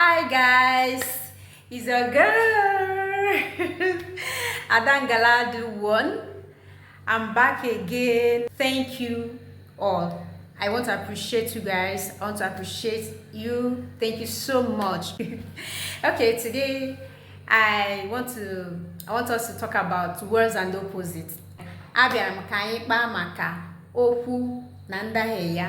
Hi guys, it's your girl Adangala the one. I'm back again. Thank you all. I want to appreciate you guys. I want to appreciate you. Thank you so much. okay, today I want to I want us to talk about words and opposites. Abịara m ka anyị kpaa maka okwu na ndahie ya.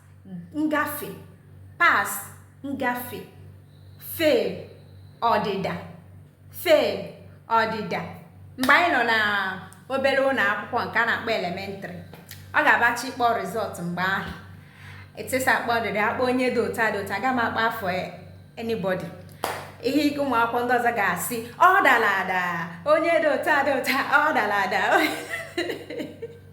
ngafe pass ngafe fail ọdịda fail ọdịda mgbe anyị nọ na obere ụlọ akwụkwọ nke a na-akpọ elementary ọ ga-abụ a chọọ ịkpọ result mgbe ahụ teacher akpọ ọdịda akpọ onye dị otu a dị otu a aga m akpọ afa anybody ihe ike ụmụ akwụkwọ ndị ọzọ ga-asị ọ dara ada onye dị otu a dị otu a ọ dara ada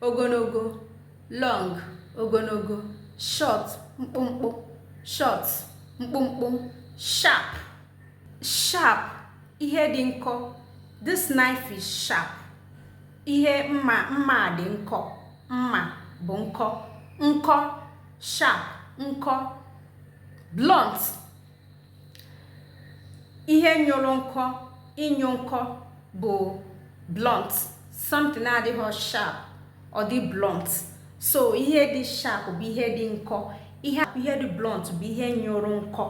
ogologo long ogologo short mkpụmkpụ short mkpụmkpụ sharp sharp ihe dị nkọ this knife is sharp ihe mma mma dị nkọ mma bụ nkọ nkọ sharp nkọ blunt ihe nyụrụ nkọ ịnyụ nkọ bụ blunt something na-adịghị sharp ọ dị blunt so ihe dị sharp bụ ihe dị nkọ ihe ihe dị blunt bụ ihe nyụrụ nkọ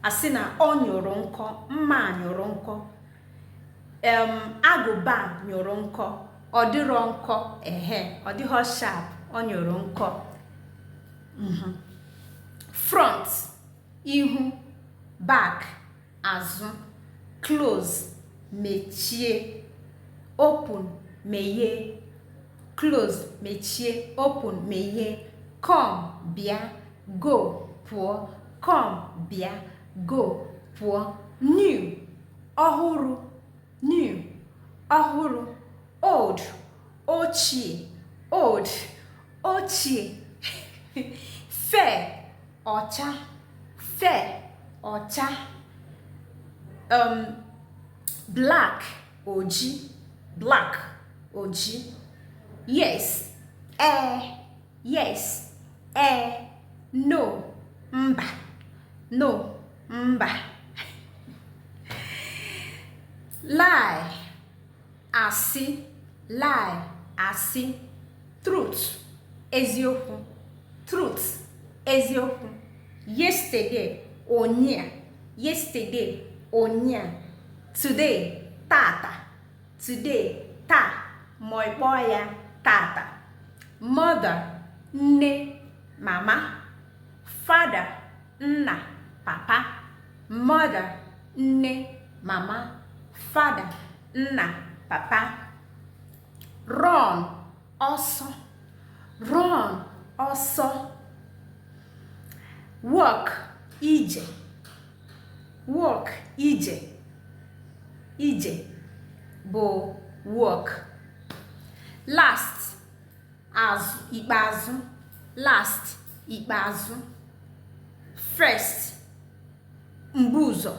a sị na ọ nyụrụ nkọ mma nyụrụ nkọ em agụba nyụrụ nkọ ọ dịrọ nkọ ehe ọ dịghị sharp ọ nyụrụ nkọ mhm. front ihu back azụ close mechie open meghee close mechie open meghee come bịa go pụọ come bịa go pụọ new ọhụrụ new ọhụrụ old ochie old ochie fair ọcha fair ọcha um, black oji black oji yes ee eh, yes ee eh, no mba no mba lie asị lie asị truth eziokwu truth eziokwu yesterday ụnyaa yesterday ụnyaa today tata today taa ma ị kpọọ ya tata mother nne mama father nna papa mother nne mama father nna papa run ọsọ run ọsọ walk ije walk ije ije bụ walk last azụ ikpeazụ last ikpeazụ first mbu ụzọ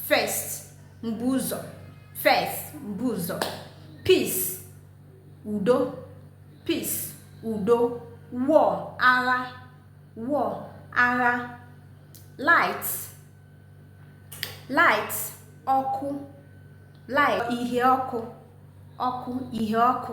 first mbu ụzọ first mbu ụzọ peace udo peace udo war agha war agha light light ọkụ light ihe ọkụ ọkụ ihe ọkụ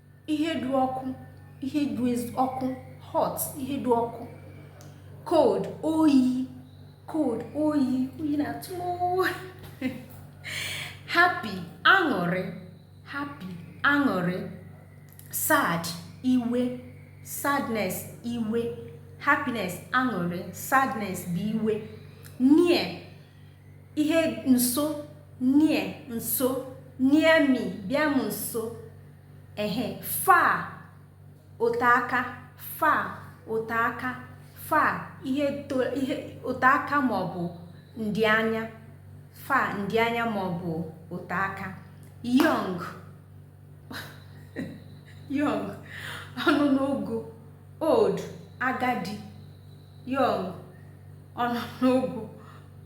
ihe dị ọkụ ihe dị ọkụ hot ihe dị ọkụ cold oyi cold oyi oyi na-atụ m happy aṅụrị happy aṅụrị sad iwe sadness iwe happiness aṅụrị sadness bụ iwe near ihe nso near nso near me bịa m nso ehe far ote aka far ote aka far ihe ote aka maọbụ ndị anya far ndị anya maọbụ ote aka young young ọ nọ n'ogo old agadi young ọ nọ n'ogo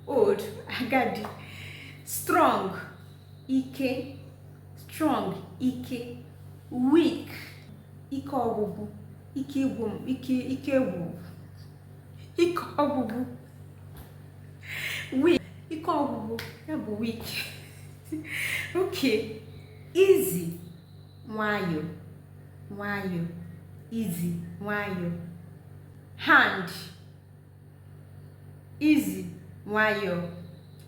old agadi strong ike strong ike weak ike ọgwụgwụ ike ịgwụ ike ike ịgwụ ike ọgwụgwụ weak ike ọgwụgwụ ya bụ weak okay easy nwayọọ nwayọọ easy nwayọọ hand Easy, nwayọọ.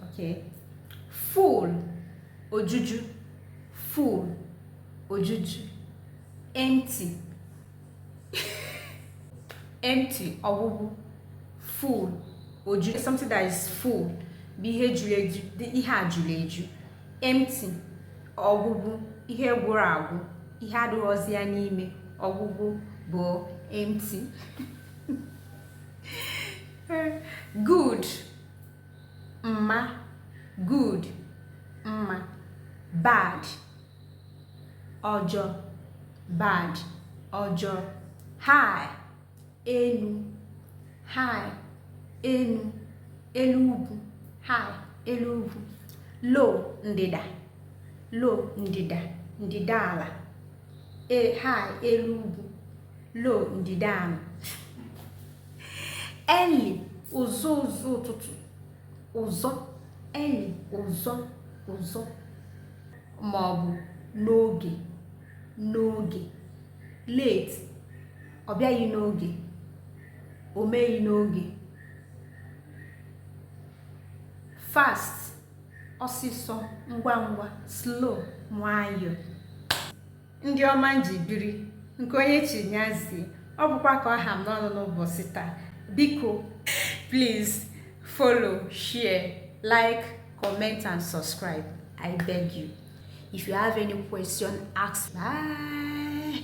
Okay. Full, ojuju. Full, ojuju. Empty. Empty, ọgwụgwụ. Full, ojuju. Something that is full bụ ihe juru eju, ihe a juru eju. Empty, ọgwụgwụ, ihe gwụrụ agwụ, ihe adịghịzi ya n'ime. Ọgwụgwụ bụ empty. good mma good mma bad ọjọọ bad ọjọọ high elu high elu elu ugwu high elu ugwu low ndịda low ndịda ndịda ala e, high elu ugwu low ndịda ala early ụzọ ụzọ ụtụtụ ụzọ early ụzọ ụzọ ma ọ bụ n'oge n'oge late ọ bịaghị n'oge o meghị n'oge fast ọsịsọ ngwa ngwa slow nwayọọ ndị ọma m ji biri nke onye chi nyazie ọ bụkwa ka ọ ha m n'ọnụ n'ụbọchị taa biko please follow share like comment and subscribe i beg you if you have any question ask bye